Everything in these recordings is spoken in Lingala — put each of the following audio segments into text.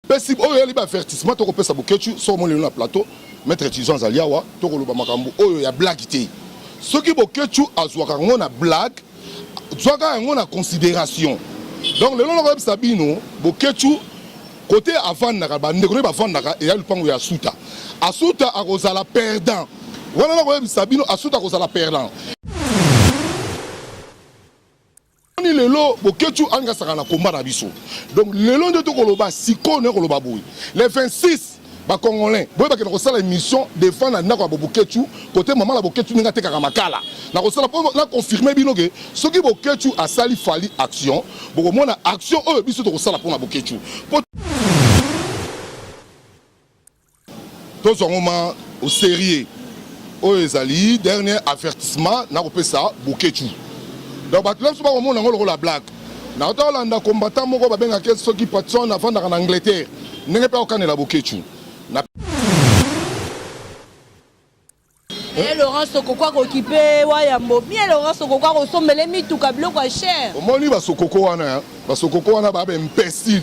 pesi oyo yali ba avertissement toko pesa boketshu soko molelo na plateau maître Tison azali awa toko loba makambo oyo ya blague te soki boketshu azwaka ngo na blague zwaka yango na considération donc lelo nako yebisa bino boketshu kote avandaka bandeko ne bavandaka eya lupango ya asuta asuta akozala perdant wana nako yebisa bino asuta akozala perdant Oni lelo Boketshu angasaka na combat na biso. Donc lelo nde tokoloba sikoyo na koloba boye. Le 26 ba congolais boye bakenda kosala émission défendre na ndako ya Boketshu kote mama na Boketshu ndenge atekaka makala. Na kosala po na confirmer bino ke soki Boketshu asali fali action bokomona action oyo biso tokosala pona Boketshu. Po Tozwa ngo ma au serieux. Oyo ezali dernier avertissement na kopesa Boketshu. Donc bato na biso bakomona yango lokola blague. Na kota kolanda combattant moko babengaka ye soki Patson afandaka na Angleterre. Ndenge mpe akokanela Boketshu. Na Eh, Laurent Sokoko akokipe Wayambo. Bien Laurent Sokoko akosombele mituka biloko ya cher. omoni basokoko wana hein? basokoko wana babe imbecile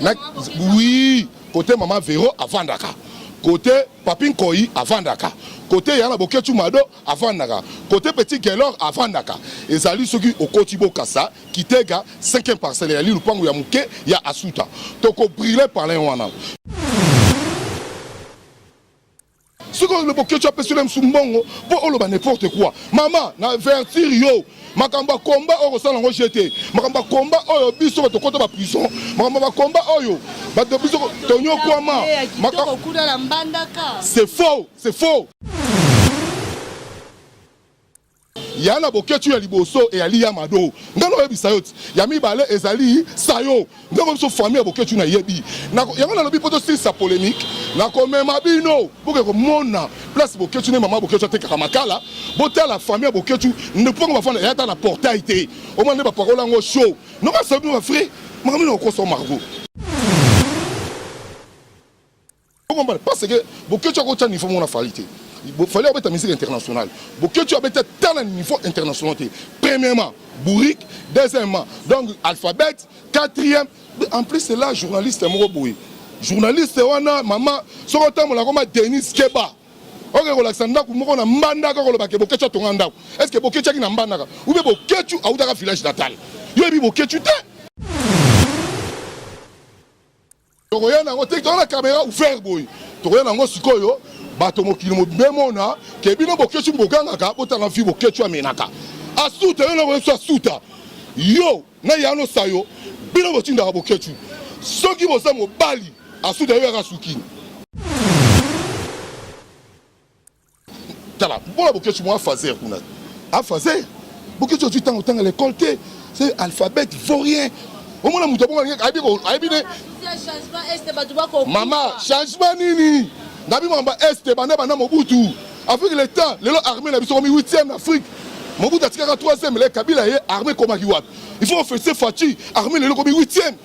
Na, oui, kote mama Vero avandaka, kote papi Nkoyi avandaka, kote yana Boketshu Mado avandaka, kote petit Gelor avandaka. Ezali soki okoti Bokassa, Kitega, 5e parcelle eyali lupangu ya muke ya Asuta. Toko briller palin wana. soki oyo boketsho apesi na misu mbongo mpo oloba n'importe quoi mama na avertir yo makambo ya komba oyo kosala yango je te makambo ya komba oyo biso bato kota ba prison makambo ya bakomba oyo bato biso tonyokwama c'est faux c'est faux Ya na boketshu ya liboso eyali ya mado ngai nakoyebisa yo ti ya mibale ezali sayo ndeko biso famille ya boketshu nayebi yango nalobi mpo tosilisa polemique nakomema bino boke komona place boketshu nde mama boketshu atekaka makala botala famille ya boketshu ndepongo bafanda ya ata na portail te omona nde bapakola yango show nomasabino bafrai makambo nokosoma margo Okomba parce que Boketshu akotya niveau moko na Fally te. Fally abeta musique internationale. Boketshu abeta ta na niveau international te. Premièrement, bourrique, deuxièmement, donc alphabet, quatrième, en plus c'est là journaliste moko boye. Journaliste wana mama soki otambola koma Denise Keba. oke kolakisa ndako moko na mbandaka koloba ke boketshu atonga ndako est ce que boketshu aki na mbandaka ube boketshu autaka village natal yo yebi boketshu te tokoya nango te toza na kamera ouvert boye tokoya nango sikoyo bato mokili mobemona ke bino boketshu bogangaka botanga vi boketshu amenaka asuta yo nakoyesu asuta yo na yano sayo bino botindaka boketshu soki boza mobali asuta yo yaka sukini tala mbola boketsu mwa fazer kuna a fazer boketsu ozwi ntango otanga lekole te se alphabet vaut rien omona moto abongo ayebi ne mama changement nini na bino mamba este banda banda mobutu afrique leta lelo armée na biso komi 8e na afrique mobutu atikaka 3e le kabila ye armée ekomaki wapi il faut ofese faci armée lelo komi 8e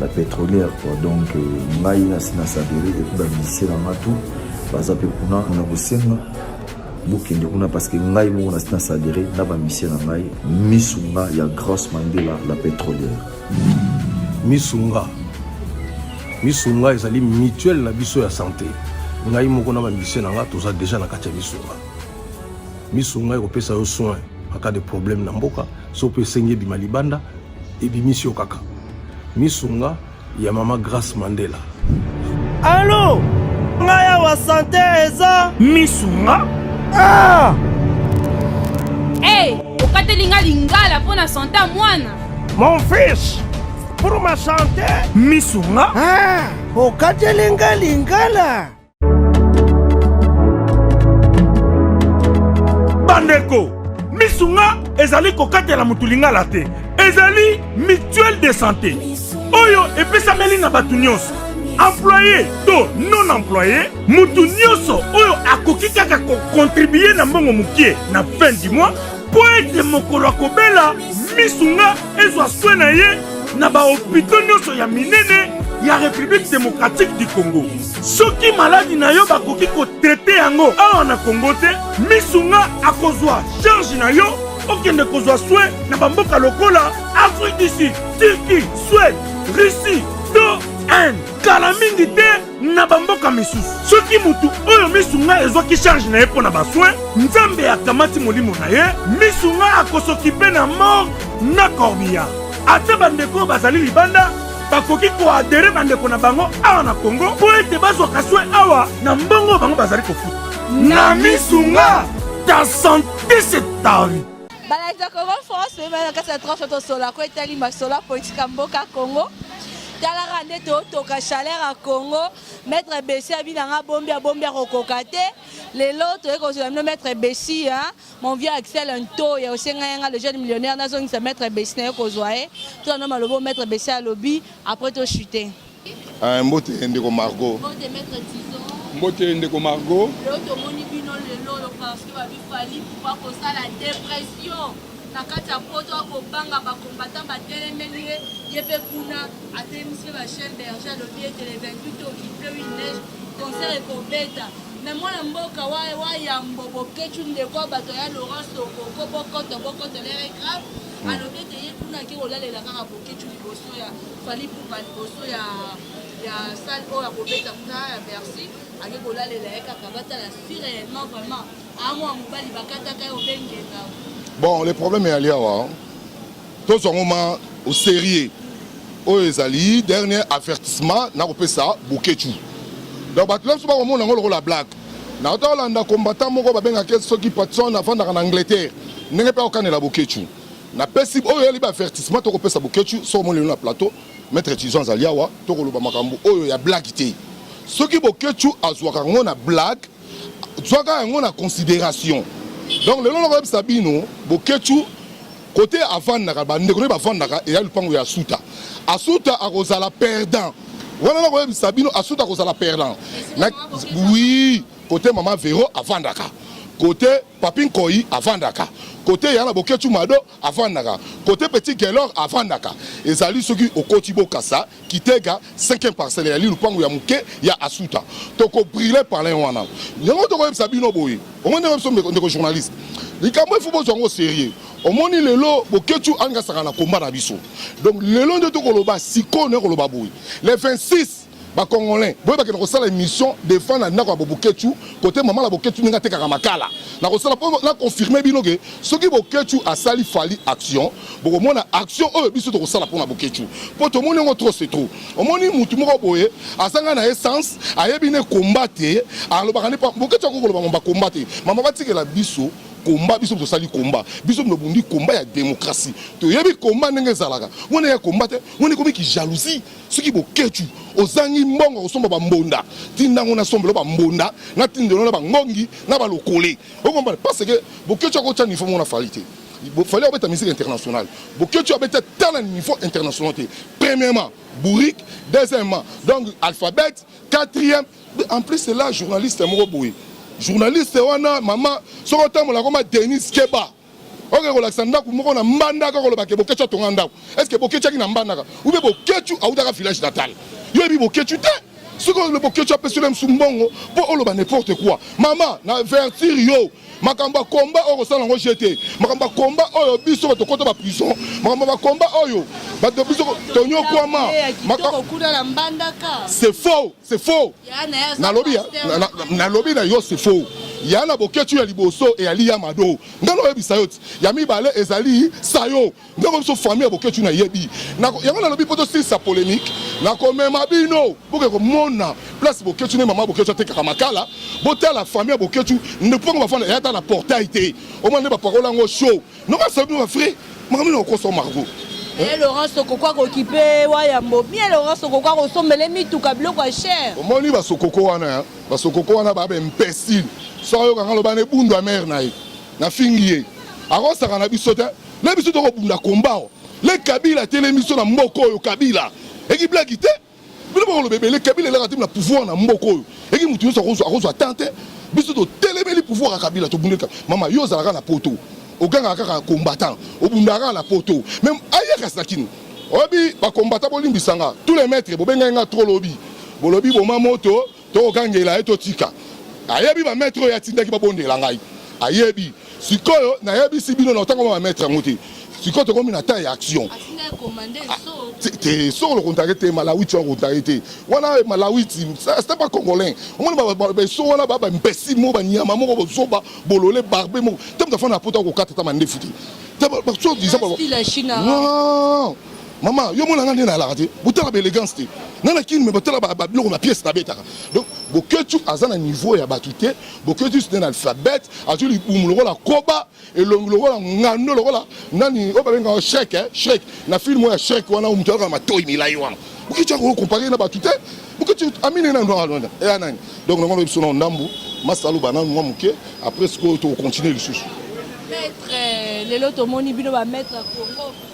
ba petrolière quoi donc euh, ngai nasi na sabere epuis bamisie na nga tout baza mpe kuna na kosenga bokende kuna parce que ngai moko nasi na sabere na bamisie na ngai misu nga ya grace mandela la petrolière misu nga misu nga ezali mutuelle na biso ya santé ngai moko na bamisie na nga toza déjà na kati ya misu nga misu nga ekopesa yo soin aka de problème na mboka so mpe esengi ebima libanda ebimisi yo kaka misunga ya mama grace mandela alo ngai awa sante eza misunga ah! hey, okateli ngai lingala mpo na sante ya mwana mon fils pour ma sante misunga ah! okateli ngai lingala bandeko misu nga ezali kokatela motu lingala te ezali mutuelle de santé oyo epesameli na bato nyonso employe to non employe moto nyonso oyo akoki kaka kokontribue na mbongo mokie na fin du mois mpo ete mokolo akobela misu nga ezwa swe na ye na bahopito nyonso ya minene ya république démocratique du congo soki maladi na yo bakoki kotrete yango awa na kongo te misu nga akozwa charge na yo okende kozwa soin na bamboka lokola afrique du sud turquie suède russie to inde kala mingi te na bamboka misusu soki motu oyo misu ngai ezwaki charge na ye mpo na basoin nzambe akamati molimo na ye misu ngai akosokipe na mort na corbillard ata bandeko oyo bazali libanda bakoki koadere bandeko na bango awa na Congo mpo ete bazwaka soin awa na mbongo bango bazali kofuta na misu nga ta sante se ta vie balakisa congo france mpe bana kati ya tranche tosola ko etali masolo ya politike ya mboka congo talaka nde totoka chaleur ya congo maître besi abi nanga bombi abombi akokoka te lelo toyei kozwela bino maître besi hein? Mon vieux Axel Ntoya osenga yanga le jeune millionnaire nazongisa maître Bessi na yo kozwa ye tuna no malobo maître Bessi alobi après to chuter. Ah, mbote ndeko Margot. Mbote maître Tison. Mbote ndeko Margot. Leo tomoni bino lelo lo parce que babi fali pouvoir kosala dépression na kati ya poto akobanga bacombattant batelemeli ye ye mpe kuna atelemisi mpe bachaine berger alobi ete le 28 okipe wi neige concert ekobeta Mais mwana mboka wa wa yambo boketshu ndeko wa bato ya Laurent Sokoko bokoto bokoto lere grave hmm. alobi ete ye kuna ake kolalela kaka boketshu liboso ya Fally Ipupa liboso ya ya salle oyo ya kobeta kuna ya Bercy ake kolalela ye kaka batala si réellement vraiment amwa mobali bakataka ye obengenga bon le problème eyali awa Tozwa yango ma au serieux. Oyo ezali dernier avertissement nakopesa Boketshu. Donc bato nyonso bakomona yango lokola blague. Nauta kolanda combattant moko babengaka ye soki Patson afandaka na Angleterre. Ndenge mpe akokanela Boketshu. Napesi oyo ezali baavertissement tokopesa Boketshu soki omoni lelo na plateau. Maitre Tison azali awa tokoloba makambo oyo ya blague te. Soki Boketshu azwaka yango na blague zwaka yango na consideration. Donc lelo nakoyebisa bino Boketshu Kote avandaka ba ndeko ne bavandaka eya lupango ya Asuta. Asuta akozala perdant. Wana na koyebisa bino Asuta akozala perdant. Na oui, kote mama Vero avandaka. Kote Papi Nkoyi avandaka. Kote yana Boketshu Mado avandaka. Kote Petit Gelor avandaka. Ezali soki okoti Bokasa Kitega cinquième parcelle ya li lupangu ya muke ya Asuta toko brûler palin wana yango toko yebisa bino boye omoni biso ndeko journaliste likambo efu bozwa yango sérieux omoni lelo boketshu alinga saka na combat na biso donc lelo nde tokoloba sikoyo na koloba boye le 26 bacongolais boye bakenda kosala émission defend na ndako ya boboketshu kote mama na boketshu ndenge atekaka makala nakosala mpo na confirme bino ke soki boketshu asali fali action bokomona action oyo biso tokosala mpona boketshu mpo tomoni yango trop se trop omoni mutu moko boye azanga na essence ayebi ne komba te alobaka ne boketshu akoki koloba mamba komba te mama batikela biso komba biso tosali komba biso tobundi komba ya demokrasi toyebi komba ndenge ezalaka mwana ya komba te mwana ekomi kijalousie soki boketshu ozangi mbongo ya kosomba bambonda tinda yango nasombelo bambonda natindelo na bangongi na balokole okombana parce que boketshu akotya nifomo na fali te fallait obeta musique internationale bokioci abeta ta na niveau international te premièrement bourrique deuxièmement donc alphabet quatrième en plus c'est là journaliste moko boye journaliste wana mama soki otambola koma denis keba oke kolakisa ndako moko na mbandaka koloba ke bokioci atonga ndako est ce que bokioci aki na mbandaka ube bokioci autaka village natal yo yebi bokioci te soki olobokioci apesi yo na misu mbongo mpo oloba n'importe quoi mama na vertire yo makambo ya komba oyo kosala yango je te makambo ya komba oyo biso bato kota ba prison makambo ya komba oyo bato biso tonyokwama c'est faux c'est faux nalobi nalobi na yo c'est faux ya na boketshu ya liboso eyali ya mado ngai naoyebisa yo ti ya mibale ezali sayo ndeko biso famille ya boketshu na yebi yango nalobi mpo tosilisa polemique nakomema bino boke komona place boketshu ne mama boketshu atekaka makala botala famille ya boketshu mpongo bafanda eyata na portail te omona nde bapakola yango show nomasala bino bafrai makambo ino okosa margo eh, laurence okokwa kokipe wayambo bien laurence okokwa kosombele mituka biloko ya cher omoni basokoko wana basokoko wana babe imbecile soki ayokanga loba na ebundu ya mare na ye nafingi ye akosaka na biso te na biso toko bunda combat oh. le kabila atelemi biso na mboko oyo kabila eki blague te bino bakoloba ebele kabila elaka temi na pouvoir na mboko oyo eki moto nyonso akozwa temps te biso totelemeli pouvoir ya kabila tobundeli mama yo ozalaka na poto ogangaka kaka combattant obundaka kaka na poto meme ayakasi na kini oyebi bakombata bolimbisanga tous les maîtres bobengai nga trop lobi bolobi boma moto Tokangela ye totika. Ayebi ba maitre oyo atindaki babondela ngai. Ayebi. Sikoyo nayebisi bino na otanga ba maitre yango te. Sikoyo tokomi na temps ya action. Te soko lo contacte te malawiti wa contacte te. Wana malawiti c'est pas congolais. Omoni ba ba ba so wana ba ba imbécile mo ba nyama moko bozoba bolole barbe moko. Te mutafana poto ko kata ta mandefu te. Te ba so disant ba. Non. Maman, yo mona nga nde nalaka te. Botala ba elegance te. Nga na kin me botala ba ba biloko na pièce na betaka. Donc Boketshu aza na niveau ya batu te. Boketshu c'est un alphabet, azo libumu lokola koba, elongi lokola ngando lokola nani oyo babenga Shrek eh, Shrek. Na film ya Shrek wana oyo mutu alaka matoyi milayi wana. Boketshu ako comparer na batu te. Boketshu amine na ndo alonda. Eh nani? Donc na ngolo biso na ndambu, masalo bananu mwa muke, après sikoyo to continuer lisusu. Maître, lelo tomoni bino ba maître ya Congo.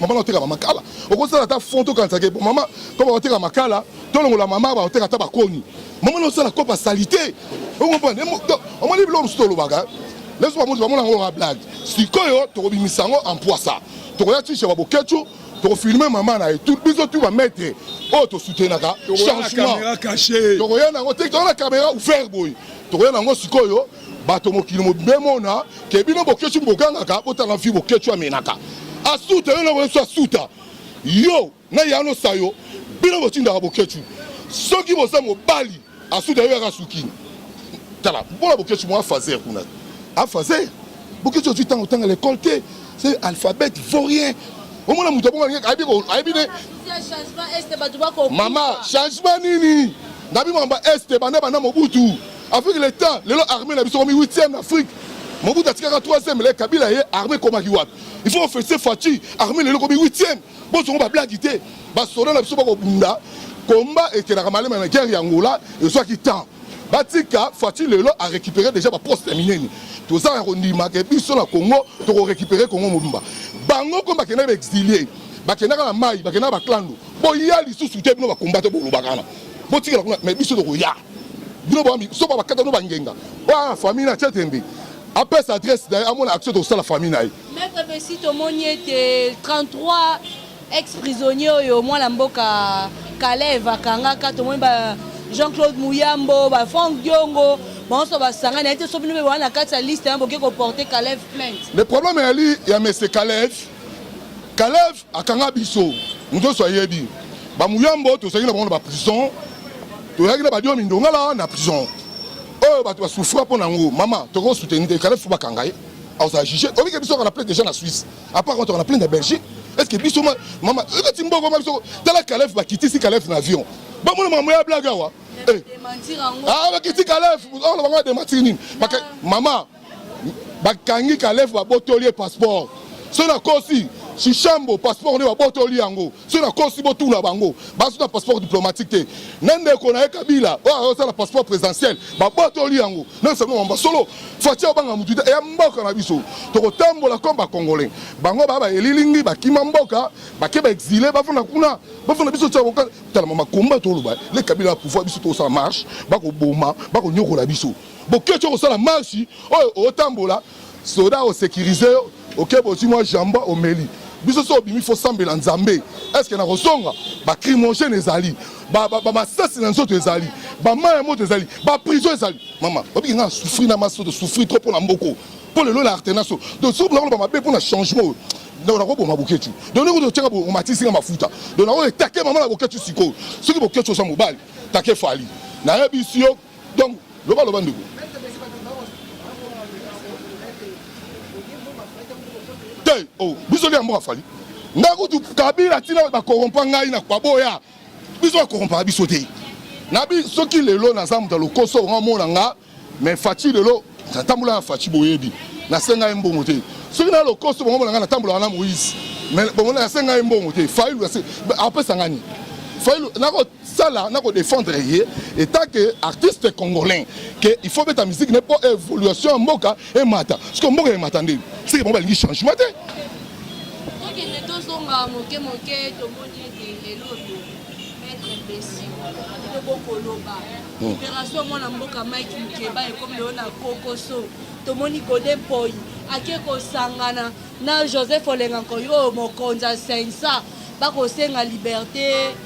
mama oteka bamakala okosala ata fond tokanisaka epo mama koba oteka makala tolongola mama baoteka ata bakoni mama nosala kopa salite okomprendre omoni biloko mosusu tolobaka leso bamoto bamona yango kaka blage sikoyo tokobimisa yango ampwasa tokoya tishe babokecu tokofilme mama na ye biso tu bamaitre oyo tosutenaka changement tokoya nango te tokoya na kamera ouvert boye tokoya nango sikoyo bato mokili mobimbe mona ke bino boketshu bogangaka botala mfi boketshu amenaka asuta yo na wesu asuta yo na yano sayo bino botindaka boketshu soki boza mobali asuta yo yaka sukini tala mpona boketshu mwa fazer kuna afazer boketshu ozwi ntango otanga lekole te se alphabet vaut rien omona moto abongo alingi ayebi ne mama changement nini na bimamba este banda banda mobutu Avec le temps, lelo armée na biso komi 8e na Afrique. Mobutu atikaka 3e, le Kabila ye armée komaki wapi? Il faut officier Fatshi, armée lelo komi 8e. Bozongo ba blague te. Ba soda na biso bako bunda. Combat ekelaka malema na guerre ya Angola, ezwaki temps. Batika Fatshi lelo a récupérer déjà ba poste ya minene. Toza ya kondima ke biso na Congo toko récupérer Congo mobimba. Bango ko bakenda ba exilier, bakendaka na mai, bakendaka ba clando. Boya lisusu te bino ba combattre bolobaka na. Botikela kuna mais biso tokoya. bino bambi soba bakata no bangenga ba famille na chetembe apesa adresse na ye amona action tokosala famille na ye maître besi tomoni ete 33 ex prisonnier oyo mwana mboka kaleve akangaka tomoni ba jean claude muyambo ba frank diongo banso basangani ayete so bino mpe baa na kati ya liste ya boke koporte kaleve plainte le problème yali ya mese kaleve kaleve Akanga biso moto nyonso ayebi bamuyambo tozalaki na bango na baprison, toyaki na badio mindongala na prison oyo bato basufra mpo na yango mama toko soutenir te kala fo bakanga ye akozala juge obike biso kaka na plainte deja na Suisse apart kaka na plainte na Belgique est-ce que biso mama ebeti mbongo ma biso tala kalef bakitisi kalef na avion bamona makambo ya blague awa eh. ah, bakiti kalef oloba oh, ngo adematiri nini mama bakangi kalef babotoli ye passeport soki nakosi shishambo passeport nde babotoli yango soki nakosi botuna bango bazuta passeport diplomatique te na ndeko na ye kabila oyo azosala passeport présidentiel babotoli yango nasango mamba solo faci obanga motu te eya mboka na biso tokotambola comme bacongolais bango baa baelilingi bakima mboka bake baexile bafanda kuna bafanda biso tala makomba toloba le kabila ya pouvoir biso tokosala marche bakoboma bakonyokola biso boketsho kosala marche oyo otambola soda osecurise yo oke bozwi mwa jamba omeli biso so obimi fo sambela nzambe eske na kozonga bacrimogène ezali bamasasi na nzoto ezali bamai ya moto ezali baprison ezali mama obiki ngai asouffri na maso tosouffri trop mpo na mboko mpo lelo na artenaso tosoublaka loba mabe mpo na changement oyo donc nakoboma boketshu donc ndenge otyaka omatisi nga mafuta donc nakoyo etake mama na boketshu sikoyo soki boketshu oza mobali take fali nayebisi yo Donc loba loba ndeko. Te oh biso lia mboka fali. Nga kutu Kabila tina ba corrompa ngai na kwa boya. Biso ba corrompa biso te. Na bi soki lelo na zamu ta lokoso nga mona nga mais Fatshi lelo natambola na Fatshi boyebi. Na senga mbongo te. Soki na lokoso bongo mona nga natambola na Moïse. Mais bongo na senga mbongo te. Failu apesa ngani. Failu nako sala na ko defendre ye etat que artiste congolais que il faut beta musique ne po évolution ya mboka emata siko mboka emata nde sike bango balingi changement te tokende tozonga moke moke tomoni ete elobi maître besi tokokoloba hmm. opération mwana mboka mike mukeba ekomi lelo na kokoso tomoni gode mpoi ake kosangana na joseph olenga nkoyo oyo mokonzi asensa bakosenga liberte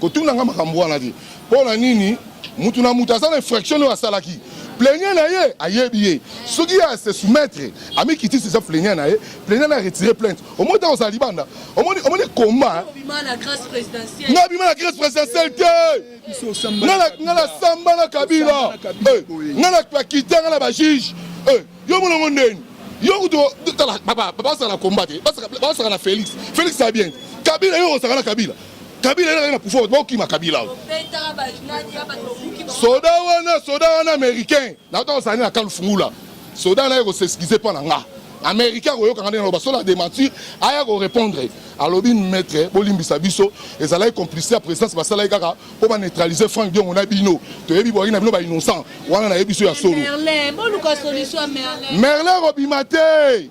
Kotuna nga makambo wana te. Mpo na nini mutu na mutu aza na infraction oyo asalaki plaignant na ye ayebi ye soki ye ase soumettre amikitisi eza plaignant na ye plaignant na retire plainte omoni ntango ozala libanda omoni omoni combat na grâce présidentielle te nga na samba na kabila eh, nga na kakita nga na bajuge eh, yo molongo ndeni yo kutu basaka na combat te basaka na félix félix abien kabila yo osaka na kabila Kabila y'a na pouvoir bokima Kabila soda wana soda wana américain nakota kozala nde na kale fungula soda naye koseskize mpo na nga américain akoyokanga ndenge naloba solo adementir aya korépondre alobi maître bolimbisa biso ezalaki complicité ya présidence basalaki kaka mpo baneutralize frank diongo na bino toyebi boyaki na bino bainnocent wana nayebi biso ya solo merle kobima te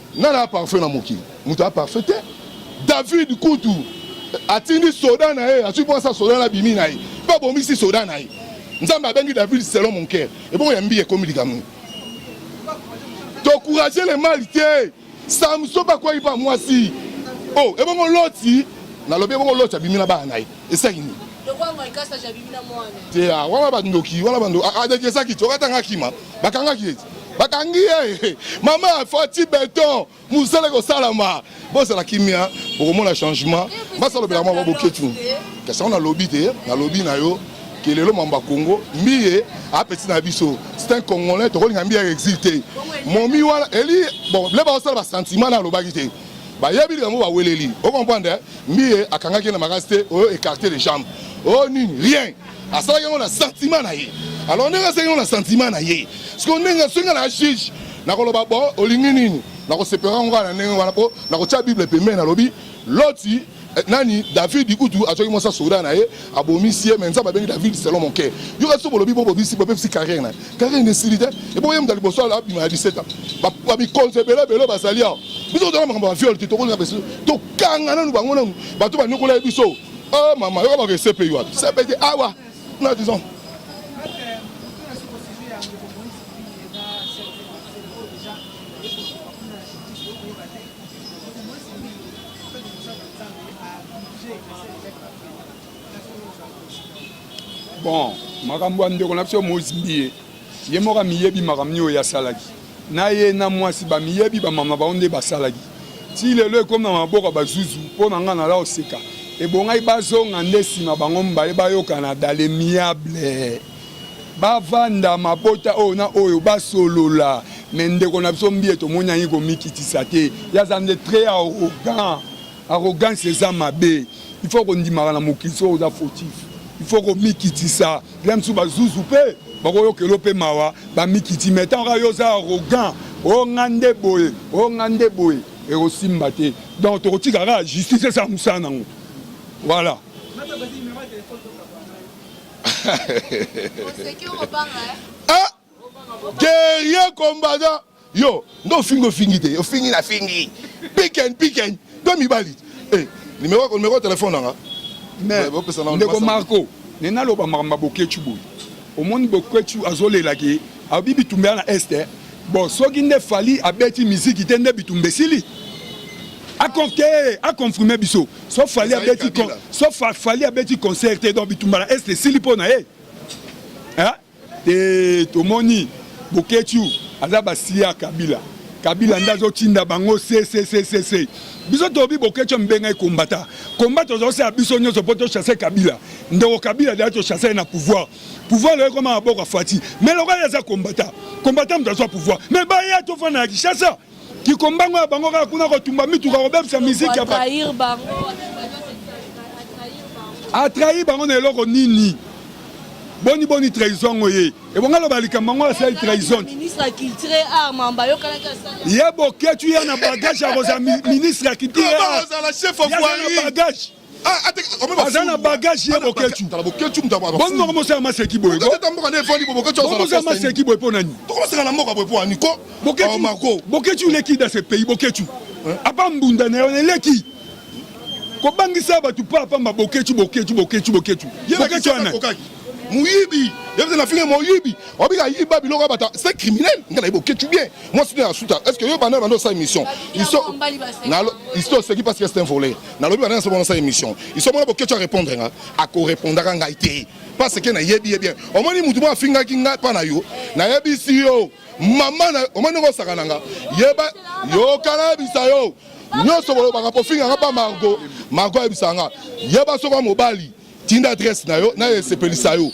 Nani a parfait na mokili? Moto a parfait te. David kutu atindi soda na ye, azwi mposa soda na bimi na ye mpe abomisi soda na ye. Nzambe abengi David selon mon cœur. Ebongo ya mbiye ekomi likambo nini? Tocourage le mal te. Samson mpe akwaki mpo ya mwasi. Oh, ebongo Loti, nalobi ebongo Loti abimi na bana na ye. esilaki nini te ah, wana bandoki wana bandoki adekesaki ah, ah, tokata nga kima bakangaki ye bakangi ye mama fati beton mosala ekosalama bozala kimia bokomona changement basalobela mwa baboketu kasi yango nalobi te nalobi na yo ke lelo mambo ya congo mbiye apesi na biso c'est un congolais tokolinga mbiye ya exil te momi wana eli bon le baosala basentiment na alobaki te Bayebi likambo ba weleli. O comprendre eh? Mbiye akangaki na makasi te, oyo écarter les jambes. Oh nini? Rien. Asalaki yango na sentiment na ye. Alors ndenge asalaki yango na sentiment na ye. Siko ndenge soki na juge nakoloba bon olingi nini? Nakosepela ngo na ndenge wana po nakotia Bible pembeni nalobi loti Eh, nani David kutu azwaki mwasi ya soda na ye abomisi ye me nzambe abengi David selon mon cœur yo kasi bolobi bobobisi bobebisi carrière na carrière nesili te eboye moto liboso abima ya 17 ans bamikonzi ebele ebele bazali awa biso tozala makambo ya viole te tokolinga biso tokanga nanu bango nanu bato banyokola ye biso o oh, mama yoka bako esepe yo wapi sepe te awa ah, na disons bon makambo ya ndeko na biso mozimbi ye ye moko amiyebi makambo nini oyo asalaki na ye na mwasi bamiyebi bamama bango nde basalaki ti lelo ekomi na maboko ya bazuzu mpo na ngai nala oseka ebongai bazonga nde nsima bango mibale bayokana dale miable bavanda mabota oyo na oyo basolola me ndeko na biso mbiye tomoni yangi komikitisa te ye aza nde très arrogant arrogance eza mabe il faut kondimaka na mokili soki oza fautif il faut komikitisa la mosusu bazuzu mpe bakoyokelo mpe mawa bamikiti me ntango kaka yo oza arrogant o oh, nga nde boye o oh, nga nde boye ekosimba te donc tokotika kaka justice eza mosala nango voilà ah guerrier combattant yo ndo ofingi ofingi te ofingi na fingi piken piken to mibali eh, numéro numéro telefone nanga ndeko marco ne naloba makambo ya boketshu boye omoni boketshu azolelaki abi bitumbela na este eh. bon soki nde fali abeti miziki te nde bitumba esili akonfirme biso so fali abeti con- so fa- fali abeti concert te donc bitumba na est esili mpo na ye Hein? Eh, tomoni boketshu aza basiya ya kabila kabila nde azotinda bango seseseese biso tobi boketshu ambenga ekombata komba tozosala biso nyonso mpo tochasse kabila ndeko kabila deya tochasse ye na pouvoir pouvoir loye koma maboko ya fati mais lokola ye aza kombata kombata moto azwa pouvoir mais baya tofanda na kinshasa kikombango ya bango kaka kuna kotumba mituka kobebisa miziki ya atrahi bango na eloko nini boni boni trahison yango ye ebonga loba likambo yango asali trahison ye boketu ye na bagage akozala ministre ya culture bagage aza na bagage ye boketshu bongo komosala maseki boye komosala maseki boye mpo nani boketshu leki da se pays boketshu apa mbunda na yo eleki kobangisa bato pa pamba boketshu boketshu boketshu boketshu boketshu wana moyibi yebite na finge moyibi obika yiba biloko bata c'est criminel nga nayebi oketchu bien moi sino ya suta est ce que yo banda banda osala émission isto oseki parce que c'est un voleur nalobi bana nasomo nasala émission iso mona boketsho arépondre nga akorépondaka ngai te parce que nayebi ye bien omoni motu moko afingaki ngai mpa na yo nayebisi yo mama na omoni ndenge osakana nga yeba yokana yebisa yo nyonso kolobaka pofingaka mpa margo margo ayebisaka nga yeba soka mobali tinda adresse na yo na esepelisa yo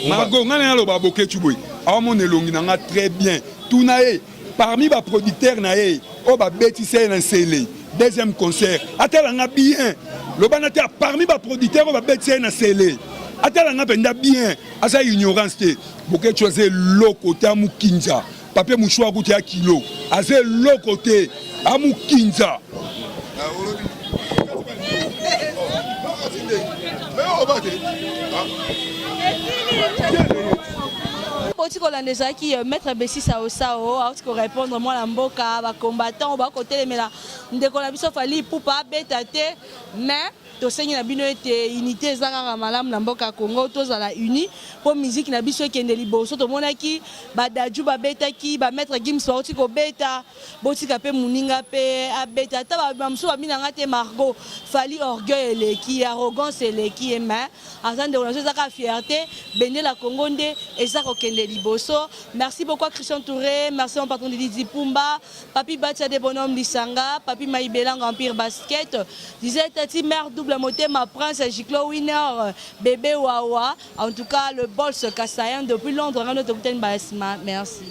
mago ngai na naloba boketshu boye aomona elongi na ngai très bien tuna ye parmi baproducteur na ye oyo babetisa ye na nsele deuxième concert atala nga bien loba na te parmi baproducteur oyo babetisa ye na nsele atala nga mpenza bien aza ignorance te boketshu aza eloko te amukinza Papier mouchoir kutu ya kilo aza eloko te amukinza bauti kolanda ezalaki euh, maître besisa osao auti korépondre mwana mboka bacombattant bakotelemela ndeko na biso fali ipupa abeta te mais Tosengi na bino ete unité eza kaka malamu na mboka Congo, tozala unis mpo miziki na biso ekende liboso. Tomonaki badaju babetaki, ba maître Gims bauti kobeta, botika mpe moninga mpe abeta. Ata bamosusu babinanga te Margot Fally, orgueil eleki ye, arrogance eleki ye, mais aza ndeko na biso, eza kaka fierté. Bendela Congo nde eza kokende liboso. Merci beaucoup Christian Toure, merci mon patron Didi Dipumba. Papy Bacha de Bonhomme Lisanga, Papy Mayibelang Empire Basket, disait Tati Mère Double Motema, Prince Giclo Winner, Bébé Wawa, en tout cas le Bols Kassaïen depuis Londres, Rano Tokuten Balasima, merci.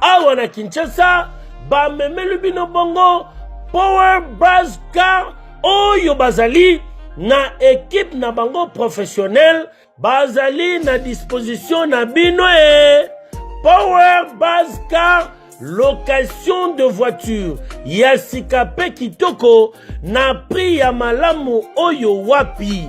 awa na kinshasa bamemeli bino bongo power bras car oyo bazali na ekipe na bango professionnel bazali na disposition na bino e power base car location de voiture ya sika mpe kitoko na prix ya malamu oyo wapi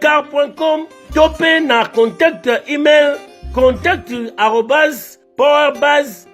car.com to mpe na contact email contact arobas powerbas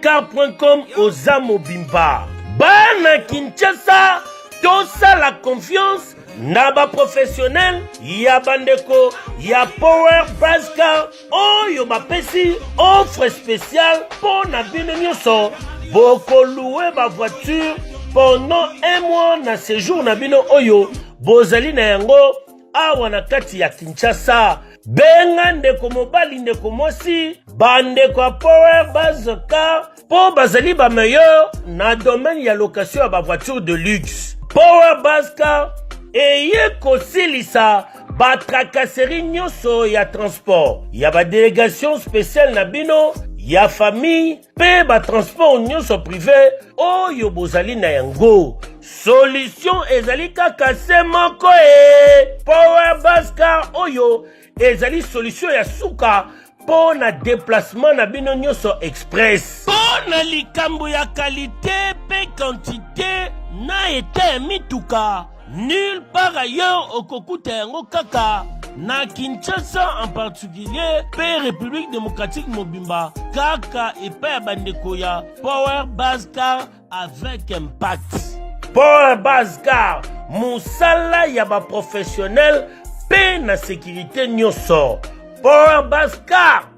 car.com oza mobimba bana kinshasa tosala confiance na baprofessionnel ya bandeko ya power bascar oyo bapesi offre spéciale mpo na bino nyonso bokolue bavoiture pendant un mois na séjour na bino oyo bozali na yango awa na kati ya kinshasa benga ndeko mobali ndeko mwasi bandeko ya power base car mpo bazali ba meilleur na domaine ya location ya ba voiture de luxe power bascar eye kosilisa batrakaseri nyonso ya transport ya badelegation speciale na bino ya famille mpe batransport nyonso prive oyo bozali na yango solution ezali kaka se moko e power bascar oyo ezali solution ya suka mpo na deplacement na bino nyonso express mpo na likambo ya kalite mpe kantite na eta ya mituka nulle part ailleurs okokuta yango kaka na kinshasa en particulier mpe république démocratique mobimba kaka epai ya bandeko ya power bas car avec impact pole base car mosala ya baprofessionnel mpe na sécurité nyonso pole base car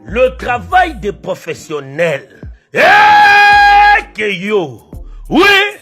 le travail des professionnels eke eh, yo oui